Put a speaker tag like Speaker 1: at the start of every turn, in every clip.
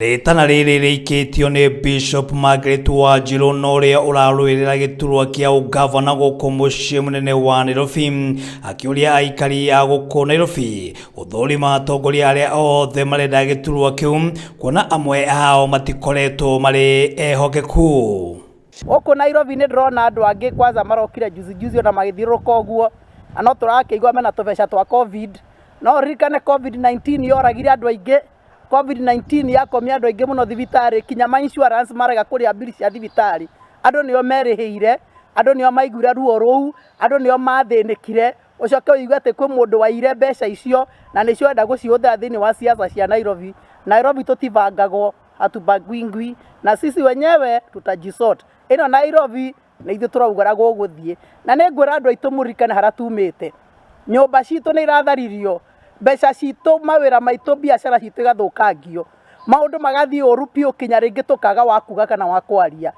Speaker 1: Rĩtana rĩrĩ rĩikĩtio nĩ Bishop Margaret Wanjirũ na ũrĩa ũrarũĩrĩra gĩturwa kĩa ũgavana gũkũ mũciĩ mũnene wa Nairobi akĩũria aikari a gũkũ Nairobi gũthũrima atongoria arĩa othe marenda gĩturwa kĩu kuona amwe ao matikoretwo marĩ ehokeku. Gũkũ
Speaker 2: Nairobi nĩ ndĩrona andũ angĩ kwanza marokire juzi juzi ona magĩthiũrũrũka ũguo na no tũrakĩigua mena tũbeca twa covid no ũririkane covid 19 yoragire andũ aingĩ COVID-19 yakomia andũ aingĩ mũno thibitarĩ kinya ma insurance marega kũrĩha mbiri cia thibitarĩ andũ nĩo merĩhĩire andũ nĩo maiguire ruo rũu andũ nĩo mathĩnĩkire ũcoke ũigue atĩ kwĩ mũndũ waiyire mbeca icio na nĩcio ũrenda gũcihũthĩra thĩinĩ wa siasa cia Nairobi Nairobi tũtibangagwo hatubagwingwi na sisi wenyewe tutajisort ĩno Nairobi na ithuĩ tũraugara gũgũthiĩ na nĩ ngwĩra andũ aitũ mũririkane harĩa tumĩte nyũmba citũ nĩ iratharirio mbeca citũ mawĩra maitũ biacara citũ igathũkangio maũndũ magathiĩ ũru biũ kinya rĩngĩ tũkaga wa kuga kana wa kwaria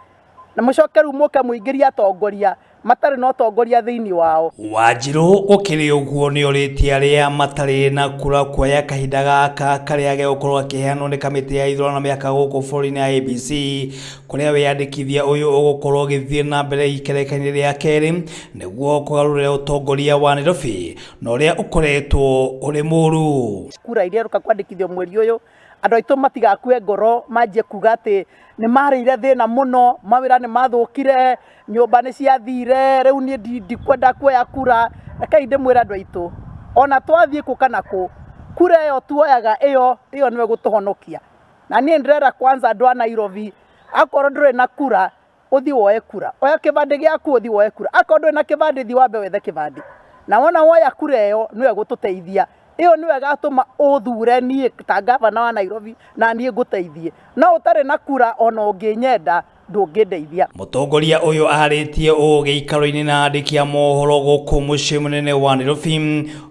Speaker 2: na mũcoke rĩu mũke mũingĩrie atongoria matarĩ na ũtongoria thĩinĩ wao Wanjirũ gũkĩrĩ
Speaker 1: ũguo nĩ orĩtie arĩa matarĩ na kura kuoya kahinda gaka karĩa gegũkorwo gakĩheanwo nĩ kamĩtĩ ya ithurano na mĩhaka gũkũ bũrũri-inĩ ya IEBC kũrĩa wĩyandĩkithia ũyũ ũgũkorwo ũgĩthiĩ na mbere ikerekania rĩa kerĩ nĩguo kũgarũrĩra ũtongoria wa Nairobi na ũrĩa ũkoretwo ũrĩ mũru. Kura iria iroka
Speaker 2: kwandĩkithio mweri ũyũ, andũ aitũ matigakue ngoro manjie kuga atĩ nĩ marĩire thĩna mũno, mawĩra nĩ mathũkire, nyũmba nĩ ciathire, rĩu niĩ ndikwenda kuoya kura. Rekei ndĩmwĩre andũ aitũ, ona twathiĩ kũ kana kũ, kura ĩyo tuoyaga ĩyo, ĩyo nĩyo ĩgũtũhonokia. na niĩ ndĩrera kwanza andũ a nairobi akorwo ndũrĩ na kura ũthi woe kura oya kĩbandĩ gĩaku ũthi woe kura akorwo ndũrĩ na kĩbandĩ thi wambe wethe kĩbandĩ na wona woya kura ĩyo nĩwe gũtũteithia ĩyo nĩwe ĩgatũma ũthure niĩ ta ngavana wa nairobi na niĩ ngũteithie no ũtarĩ na kura ona ũngĩnyenda ndũngĩndeithia. Mũtongoria ũyũ
Speaker 1: arĩtie ũũ gĩikaro-inĩ na andĩki a mohoro gũkũ mũciĩ mũnene wa Nairobi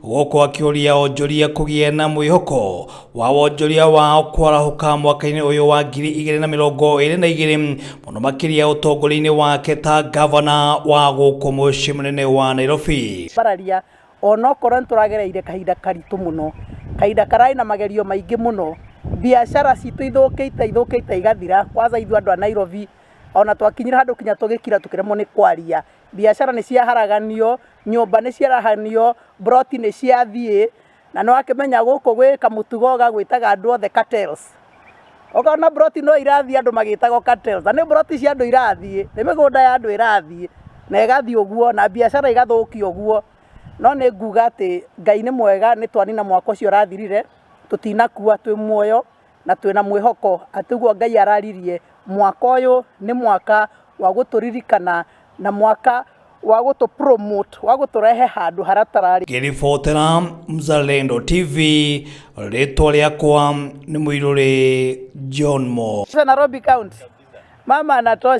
Speaker 1: gũkũ akĩũria onjoria kũgĩa na mwĩhoko wa wonjoria wao kwarahũka mwaka-inĩ ũyũ wa ngiri igĩrĩ na mĩrongo ĩrĩ na igĩrĩ mũno makĩria ũtongoria-inĩ wake ta gavana wa gũkũ mũciĩ mũnene wa Nairobi. Bararia
Speaker 2: Onokorwo nĩ tũragereire kahinda karitũ mũno, kahinda kararĩ na magerio maingĩ mũno, biacara citũ ithũkĩte ithũkĩte igathira, kwanja ithuĩ andũ a Nairobi, ona twakinyire handũ nginya tũgĩkira tũkĩremwo nĩ kwaria. Biacara nĩ ciaharaganio, nyũmba nĩ ciarahanio, mburoti nĩ ciathiĩ, na nĩ wakĩmenya gũkũ gwĩ kamũtugo gagwĩtaga andũ othe cartels. ũkona buroti no irathiĩ andũ magĩtagwo cartels na nĩ buroti cia andũ irathiĩ nĩ mĩgũnda ya andũ ĩrathiĩ na ĩgathiĩ ũguo na biacara igathũkio ũguo no nĩ nguga atĩ ngai nĩ mwega nĩ twanina mwaka ũcio ũrathirire tũtinakua twĩ muoyo na twĩna mwĩhoko atĩ ũguo ngai araririe mwaka ũyũ nĩ mwaka wa gũtũririkana na mwaka wa gũtũ promote wa gũtũrehe handũ haratararĩ ngĩribotera
Speaker 1: mzalendo tv rĩtwa rĩakwa nĩ mũirũrĩ
Speaker 2: john
Speaker 1: mo
Speaker 2: Nairobi
Speaker 1: County mama
Speaker 2: anatosha